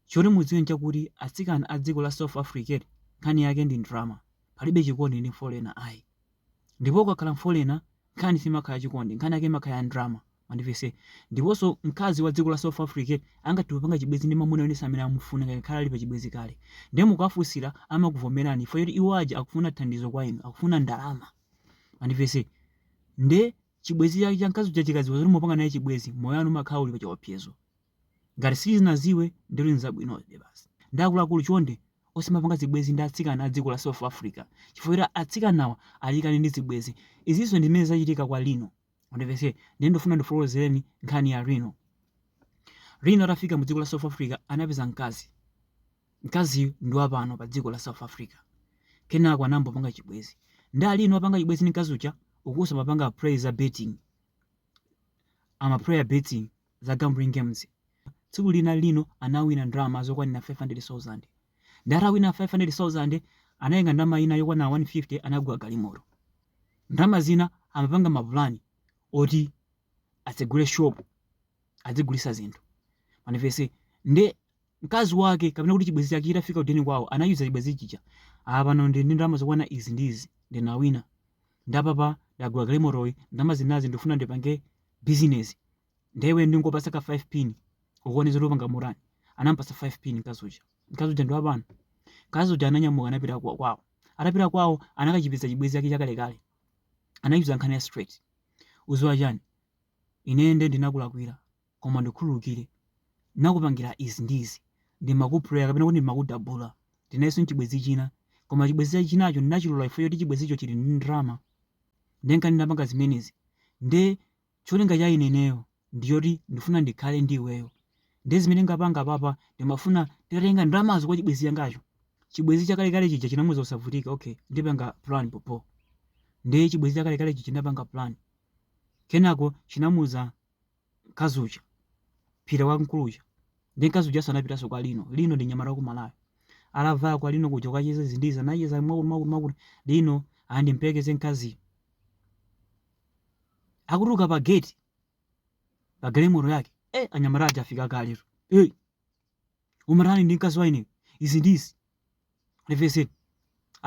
Choti mudziwe nchakuti atsikana a dziko la South Africa nkhani yake ndi ndrama, palibe chikondi ndi foreigner ayi. Ndipo ukakhala foreigner nkhani simakhala ya chikondi nkhani yake imakhala ya ndrama mwandimvetsa. Ndiponso mkazi wa dziko la South Africa angathe kupanga chibwezi ndi mamuna wina ense amene amufuna ngakhale ali pa chibwezi kale. Nde mukawafunsila amakuvomelani chifukwa choti iwo aja akufuna thandizo kwa inu akufuna ndalama mwandimvetsa. Nde chibwezi chake cha mkazi uja chikadziwa zoti mupanga naye chibwezi moyo wanu umakhala uli pa chiopsezo. Ngati sichinadziwe ndetu nzabwinobe basi. Nde akuluakulu chonde osamapanga zibwezi ndi atsikana a dziko la South Africa chifukwa choti atsikanawa ali kale ndi zibwezi. Izinso ndi zimene zachitika kwa Lino. Mundimvetse, nde ndufuna ndikufotokozeleni nkhani ya Lino. Lino atafika mu dziko la South Africa anapeza mkazi. Mkaziyu ndi wa pano pa dziko la South Africa. Kenako anayambo panga chibwezi. Nde a Lino apanga chibwezi ndi mkazi uja, ukunso amapanga play za betting. Ama player betting. za gambling games. Tsiku lina Lino anawina ndalama zokwanira 500,000. Ndi atawina 500,000 anatenga ndalama ina yokwanira 150 anagula galimoto. Ndalama zina amapanga mapulani oti atsegule shop adzigulitsa zinthu. Mwandimvetsa nde mkazi wake kapena kuti chibwenzi chake chitafika kudeni kwawo anachiuza chibwenzi chija ah pano ndi ndi ndalama zokwana izi ndi izi ndinawina nde apapa ndagula galimotoyi ndalama zinazi ndifuna ndipange bizinesi nde iwe ndingokupatsa ka 5 pin ukuone zoti upanga mutani anampatsa 5 pin mkazi uja mkazi uja ndi wapano mkazi uja ananyamuka anapita kwa- kwawo atapita kwawo anakachipeza chibwenzi chake chakalekale anachiuza nkhani ya straight udziwa chani ine nde ndinakulakwira koma undikhululukire, ndinakupangira izi ndi izi, ndimaku player kapena kuti ndimakudabula, ndili nayenso ndi chibwenzi china, koma chibwenzi chake chinacho ndinachilola chifukwa choti chibwenzicho chili ndi ndalama, ndiye nka ndinapanga zimenezi, ndiye cholinga cha ine ineyo ndi choti ndifuna ndikhale ndi iweyo, ndiye zimene ndingapanga apapa ndimafuna nditatenga ndalamazo kwa chibwenzi changacho, chibwenzi chakalekale chija chinamuuza usavutike, okay, ndipanga plan popo, ndiye chibwenzi chakalekale chija chinapanga plan, kenako chinamuuza mkazi uja pita kwa mkulu uja nde mkazi uja anapitanso kwa lino lino ndi nyamata wa ku malawi atafika kwa lino kuja kukacheza izi ndi izi anacheza mwakuti mwakuti mwakuti lino amuperekeze mkaziyo akutuluka pa gate pa galimoto yake eh anyamata aja afika kaletu eh umatani ndi mkazi waine izi ndizi mundimvetse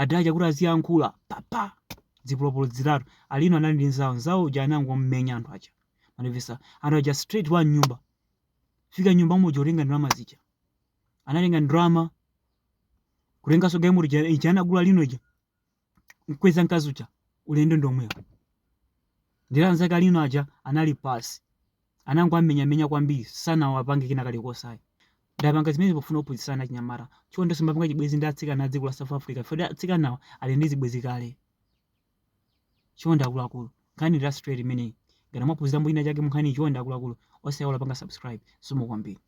adacha kuti aziyankhula papa zipolopolo zitatu alino anali ndi nzawo nzawo uja anangomenya anthu aja mwandimvetsa anthu aja straight wa nyumba fika nyumba muja kutenga ndalama zija anatenga ndalama kutenganso galimoto ija anagula lino uja mkweza mkazi uja ulendo ndi omwewo ndiye anzake alino aja anali pansi anangowamenyamenya kwambiri sanawapange kina kalikonse ayi ndapanga zimene pofuna kuphunzitsana achinyamata chonde tisamapange chibwenzi ndi atsikana a dziko la south africa poti atsikanawa ali ndi zibwenzi kale chonde akuluakulu nkhani ndi ya straight imeneyi ngati mwaphunzira mbuyi ina chake munkhaniyi chonde akuluakulu osayiwala kupanga subscribe zikomo kwambiri